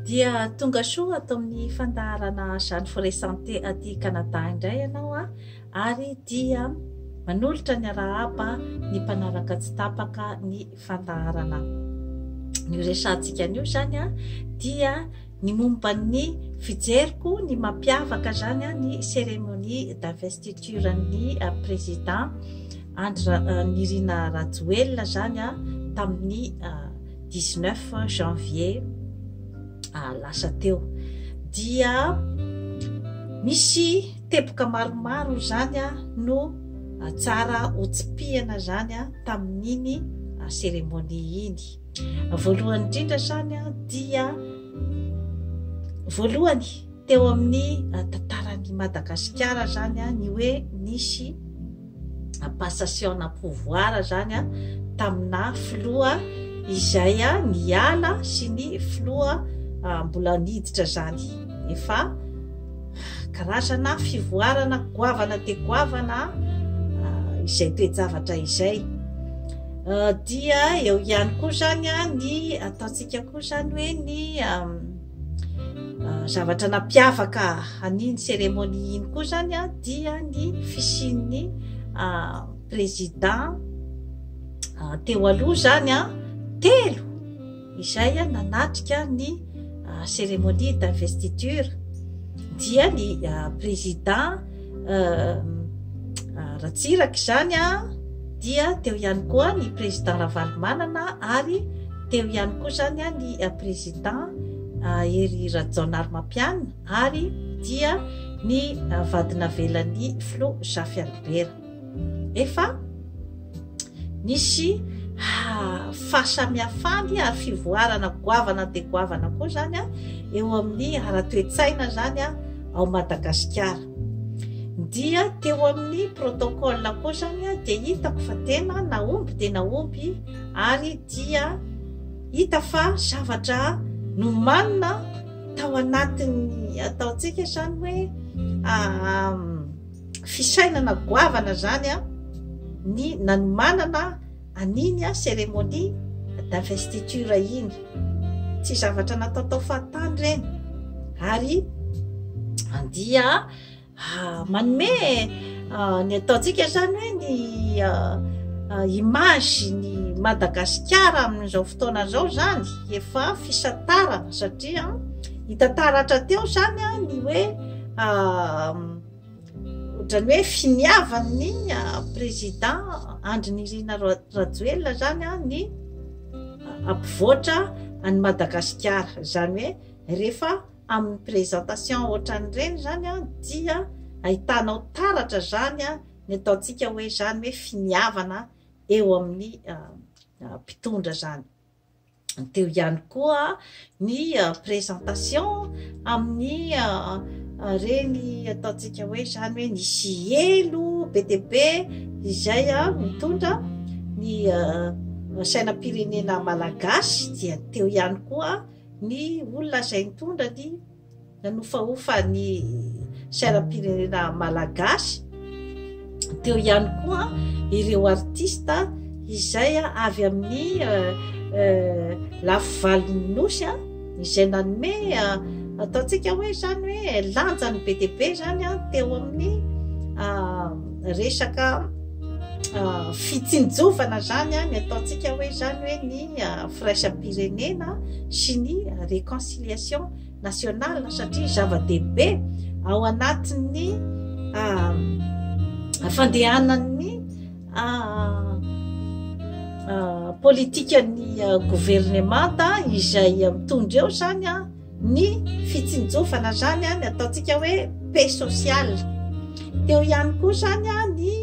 Dia tonga soa ato amin'ny fandaharana Jeanne Forêt Santé aty Canada indray ianao a! ary dia manolotra ny arahaba ny mpanaraka tsy tapaka ny fandaharana an'io resahantsika an'io izany a! dia ny momba ny fijeriko ny mampiavaka izany a! ny cérémonie d'investiture ny président Andry Nirina Rajoelina izany a! tamin'ny 19 janvier lasa teo dia misy teboka maromaro izany a no tsara hotsipihana zany a tamin'iny cérémonie iny voalohany indrindra zany a dia voalohany teo amin'ny tantaran'i madagasikara zany a ny hoe nisy passation na pouvoir zany tamina filoha izay niala sy ny filoha mbola niditra zany efa karazana fivoarana goavana de goavana izay toe-javatra izay dia eo ihany koa zany ny ataontsika koa zany hoe ny Zavatra nampiavaka an'iny cérémonie iny koa zany a dia ny fisian'ny président teo aloha zany a telo izay a nanatrika ny cérémonie d'investiture dia ny président Ratsiraka izany dia teo ihany koa ny président Ravalomanana ary teo ihany koa izany ny président Hery Rajaonarimampianina ary dia ny vadinavelan'ny filoha Zafy Albert. Efa Nisy fahasamihafany ary fivoarana goavana dia goavana koa izany eo amin'ny ara-toe-tsaina izany ao Madagasikara. Dia teo amin'ny protocole koa izany dia hitako fa tena nahomby dia nahomby ary dia hita fa zavatra nomanina tao anatin'ny ataontsika izany hoe fisainana goavana zany an ny nanomanana an'iny an cérémonie d'investiture iny tsy zavatra natao tao fahatany reny ary dia ah, manome ah, ny ataontsika zany hoe ny ah, image ny Madagasikara amin'izao fotoana zao zany efa fisantarana satria hitantaratra teo zany ny hoe Otrany hoe finiavan'ny président Andry Nirina Rajoelina zany ny ampivoatra an'i Madagasikara. Izany hoe rehefa amin'ny présentation otran'ireny zany dia ahitanao taratra zany ny ataontsika hoe zany hoe finiavana eo amin'ny mpitondra zany. teo ihany koa ny présentation amin'ny reny ataontsika hoe izany hoe ny sielo be dia be izay mitondra ny sainam-pirenena malagasy dia teo ihany koa ny olona izay nitondra ny nanofahofa ny sainam-pirenena malagasy, teo ihany koa ireo artista izay avy amin'ny lafy valon'ny Nosy izay nanome ataontsika hoe izany hoe lanjany be dia be izany teo amin'ny resaka fitsinjovana izany ny ataontsika hoe izany hoe ny firaisam-pirenena sy ny réconciliation. Reconciliation nationale satria zava-dehibe ao anatin'ny fandehanan'ny politikan'ny governemanta izay mitondra eo zany a ny fitsinjofana zany a ny ataontsika hoe paix sociale teo ihany koa zany a ny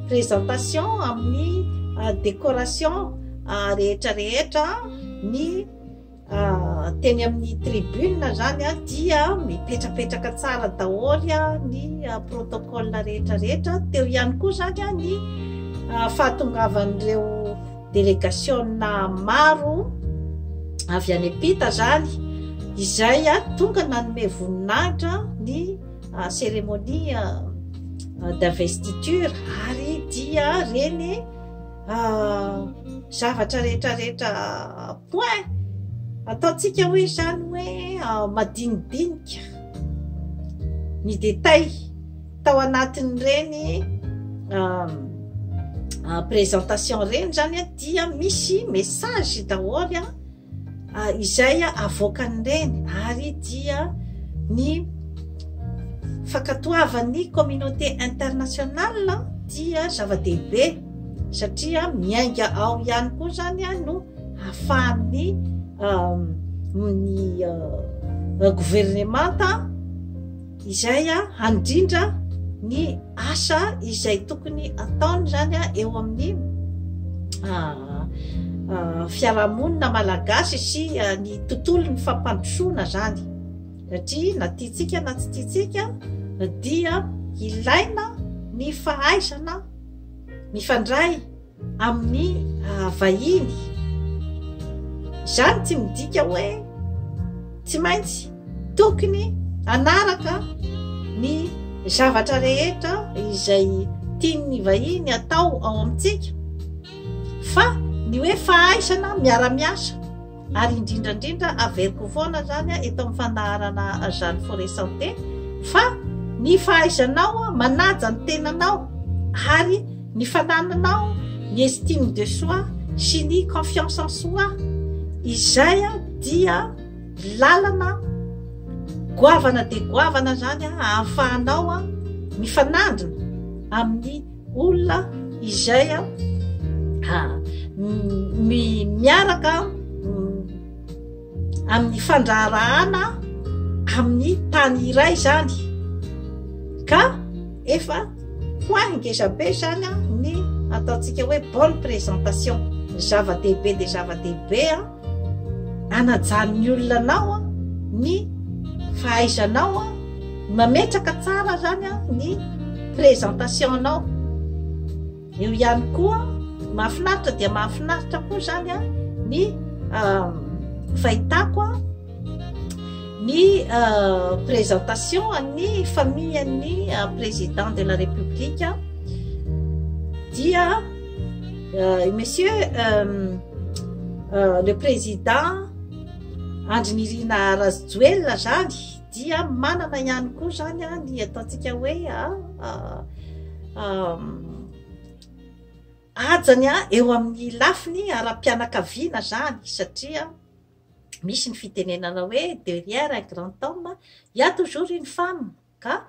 présentation amin'ny décoration rehetra rehetra ny Teny amin'ny tribune zany dia mipetrapetraka tsara daholo ny protocole rehetra rehetra, teo ihany koa zany ny fahatongavan'ireo delegationina maro avy any am-pita zany izay tonga nanome voninahitra ny cérémonie d'investiture ary dia reny zavatra rehetra rehetra Koa e! Ataontsika hoe izany hoe madinidinika ny détails tao anatin'ireny présentation ireny izany an, dia misy message daholo an, izay avoakan'ireny ary dia ny fankatoavan'ny communauté internationale dia zava-dehibe satria miainga ao ihany koa izany an no. ahafahan'ny governemanta izay handrindra ny asa izay tokony ataony izany eo amin'ny fiarahamonina malagasy sy ny tontolo ny fampandrosoana izany satria na tiantsika na tsy tiantsika dia ilaina ny fahaizana mifandray amin'ny vahiny. Izany tsy midika hoe tsy maintsy tokony hanaraka ny zavatra rehetra izay tian'ny vahiny hatao ao amintsika fa ny hoe fahaizana miara-miasa. Ary indrindra indrindra averiko foana zany eto amin'ny fanaharana Jeanne Forest Santé fa ny fahaizanao manaja ny tenanao ary ny fanananao ny estime de soi sy ny confiance en soi izay dia lalana goavana dia goavana zany ahafahanao mifanandrina amin'ny olona izay a miaraka amin'ny fandraharahana amin'ny tany iray zany ka efa ho ahy ngezabe zany a ny ataontsika hoe bonne présentation ny zava-dehibe de zava-dehibe a Anajan'ny olona anao ny fahaizanao mametraka tsara zany ny présentation nao. Eo ihany koa mahafinaritra dia mahafinaritra koa zany ny fahitako ny présentation an'ny famille an'ny président de la république dia Euh, monsieur euh, euh, le président andry nirina razojoelina zany dia manana ihany koa zany a ny ataontsika hoe ajany a eo amin'ny lafiny ara-pianakaviana zany satria misy ny fitenenana hoe de rien un grand homme ya toujours une femme ka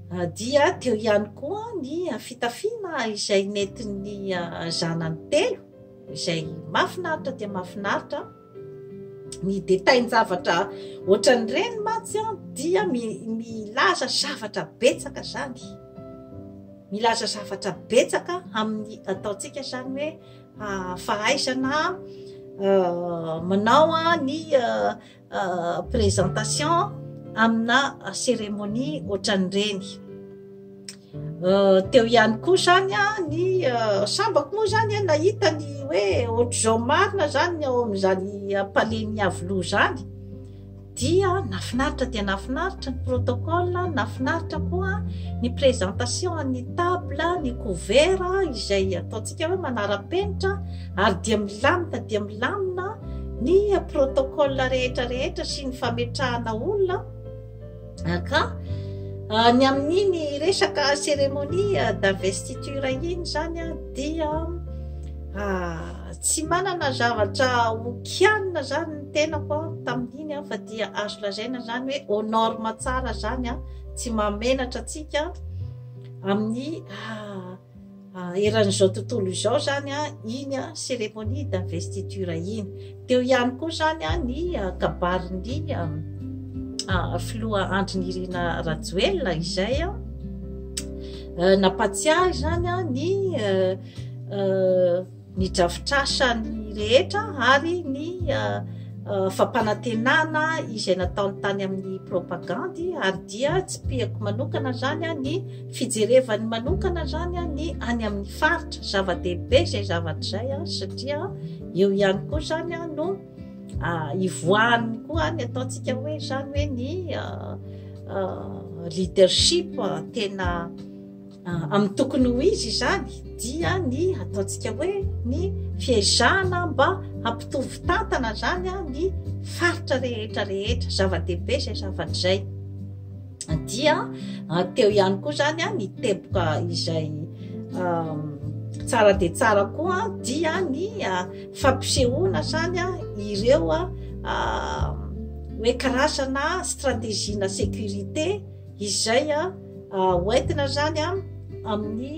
Dia teo ihany koa ny fitafiana izay nentin'ny zanany telo izay mahafinaritra dia mahafinaritra. Ny detail-javatra ohatran'ireny mantsy dia milaza zavatra betsaka izany. Milaza zavatra betsaka amin'ny ataontsika izany hoe fahaizana manao ny présentation amina cérémonie ohatran'ireny teo ihany koa zany a ny sambako moa zany a nahita ny hoe ohatr'izao marina zany ny ao amin'izany palais ny aviloha zany dia nafinaritra dia nafinaritra ny protocole nafinaritra koa ny présentation an'ny table ny couvert izay ataontsika hoe manara-penitra ary dia milamina dia milamina ny protocole rehetra rehetra sy ny fametrahana olona ka ny amin'iny resaka cérémonie d'investiture iny zany a dia tsy manana zavatra hokianina zany ny tenako a tamin'iny a fa dia azo lazaina zany hoe au norme tsara zany a tsy mahamenatra antsika amin'ny Eran'izao tontolo izao izany iny cérémonie d'investiture iny. Teo ihany koa izany ny kabarin'ny filoha Andry Nirina Rajoelina izay nampatsiahy izany ny ny drafitrasany rehetra ary ny fampanantenana izay nataony tany amin'ny propagandy ary dia tsipihako manokana zany ny fijerevany manokana zany ny any amin'ny faritra zava-dehibe izay zavatra izay a satria eo ihany koa zany a no ivoahany koa ny ataontsika hoe zany hoe ny leadership tena Amin'ny tokony ho izy izany dia ny ataontsika hoe ny fiezahana mba hampitovy tantana izany ny faritra rehetra rehetra zava-dehibe izay zavatra izay dia teo ihany koa izany ny teboka izay tsara dia tsara koa dia ny fampisehoana izany ireo hoe karazana strategie na sécurité Izay ho entina izany amin'ny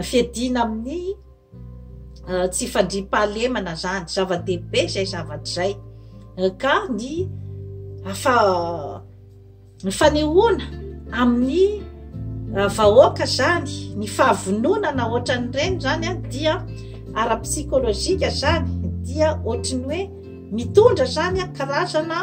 fiadiana amin'ny tsy fandriampahalemana izany. Zava-dehibe izay zavatra izay. Ka ny fanehoana amin'ny vahoaka izany, ny fahavononana ohatran'ireny izany dia ara-psikolojika izany, dia ohatran'ny hoe mitondra izany karazana.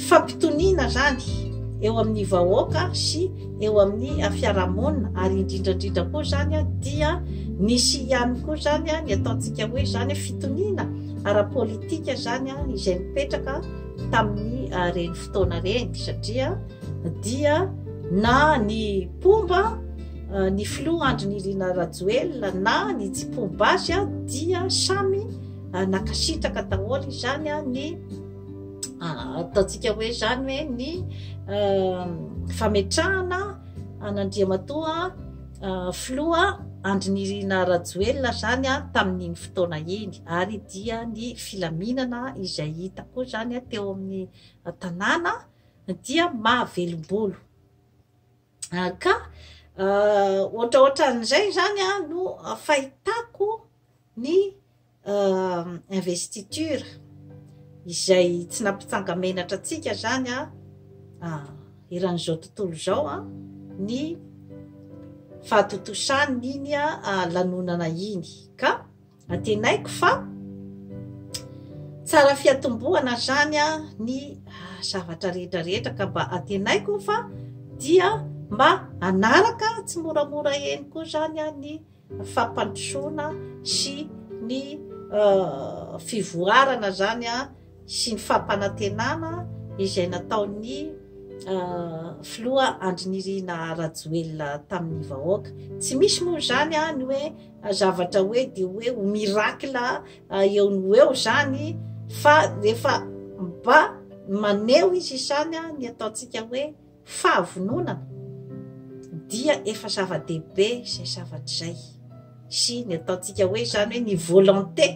fampitoniana izany eo amin'ny vahoaka sy eo amin'ny fiarahamonina ary indrindra indrindra koa izany dia nisy ihany koa izany ny ataontsika hoe izany fitoniana ara-politika izany izay nipetraka tamin'ny reny fotoana reny satria dia na ny mpomba ny filoha Andry Nirina Rajoelina na ny tsy mpomba azy dia samy Nankasitraka daholo izany ny ataontsika hoe izany hoe ny fametrahana an'Andriamatoa Filoha Andry Nirina Rajoelina izany tamin'iny fotoana iny ary dia ny filaminana izay hita koa izany teo amin'ny tanàna dia mahavelom-bolo. Ka ohatraohatran'izay izany no fahitako ny investiture izay tsy nampitsanga-menatra antsika zany a ah, eran'izao tontolo izao a ny fahatontosany iny a ah, lanonana iny ka atenaiko fa tsara fiatombohana zany a ny ah, zavatra rehetra rehetra ka mba atenaiko fa dia mba anaraka tsy moramora eny koa zany a ny fampandrosoana sy ny fivoarana izany sy ny fampanantenana izay nataon'ny filoha Andry Nirina Rajoelina tamin'ny vahoaka. Tsy misy moa izany ny hoe zavatra hoe dia hoe ho miracle eo no eo izany fa rehefa mba maneho izy izany ny ataontsika hoe Fahavononana, dia efa zava-dehibe izay zavatra izay, sy ny ataontsika hoe izany hoe ny volonté,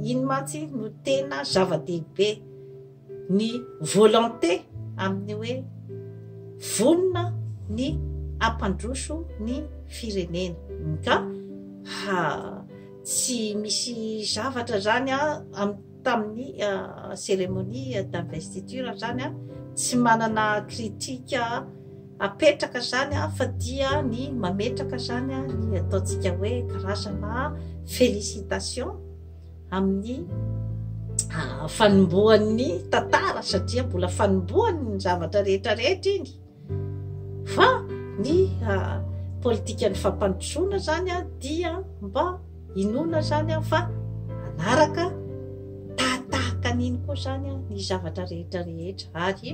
iny mantsy no tena zava-dehibe, ny volonté amin'ny hoe vonona ny hampandroso ny firenena. Ka ha, tsy misy zavatra izany amin'ny. tamin'ny cérémonie d'investiture izany an, tsy manana critique apetraka izany an, fa dia ny mametraka izany an, ny ataontsika hoe karazana félicitations amin'ny fanombohan'ny tantara satria mbola fanombohan'ny zavatra rehetra rehetra iny. Fa ny politikan'ny fampandrosoana izany dia mba inoana izany fa hanaraka tahatahaka an'iny koa izany ny zavatra rehetra rehetra. Ary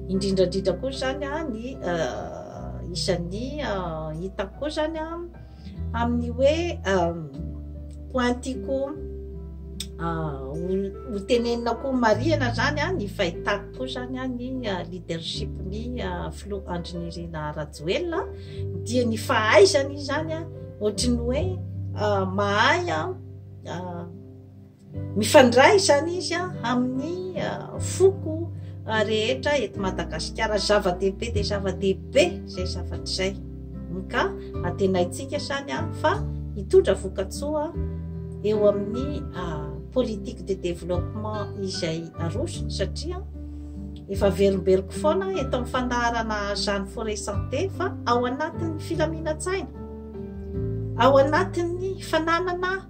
indrindra indrindra koa izany ny isan'ny hitako koa izany amin'ny hoe point tiako ho tenenina koa ho marihana zany an ny fahitako koa zany an ny leadership ny filoha Andry Nirina Rajoelina dia ny fahaizany zany an ohatry ny hoe mahay an Mifandray izany izy amin'ny foko rehetra eto Madagasikara. Zava-dehibe dia zava-dehibe izay zavatra izay. Ka antenaintsika izany fa hitondra vokatsoa eo amin'ny politique de développement izay arosony satria efa averimberiko foana eto amin'ny fandaharana Jeanne Forêt Santé fa ao anatin'ny filaminan-tsaina, ao anatin'ny fananana.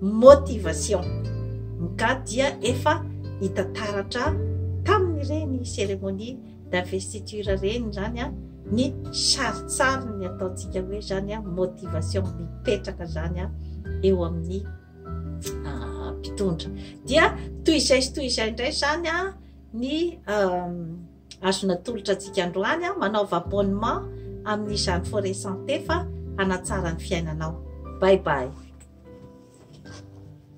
Motivation. Nga dia efa hita taratra tamin'ireny cérémonie d'investiture ireny izany ny sarintsariny ataontsika hoe izany motivation mipetraka izany eo amin'ny ah, mpitondra. Dia toy izay sy toy izay indray izany ny ah, Azo natolotra antsika androany an, manaova abonnement amin'izany Forêt Santé fa hanatsara ny fiainanao. Bye bye.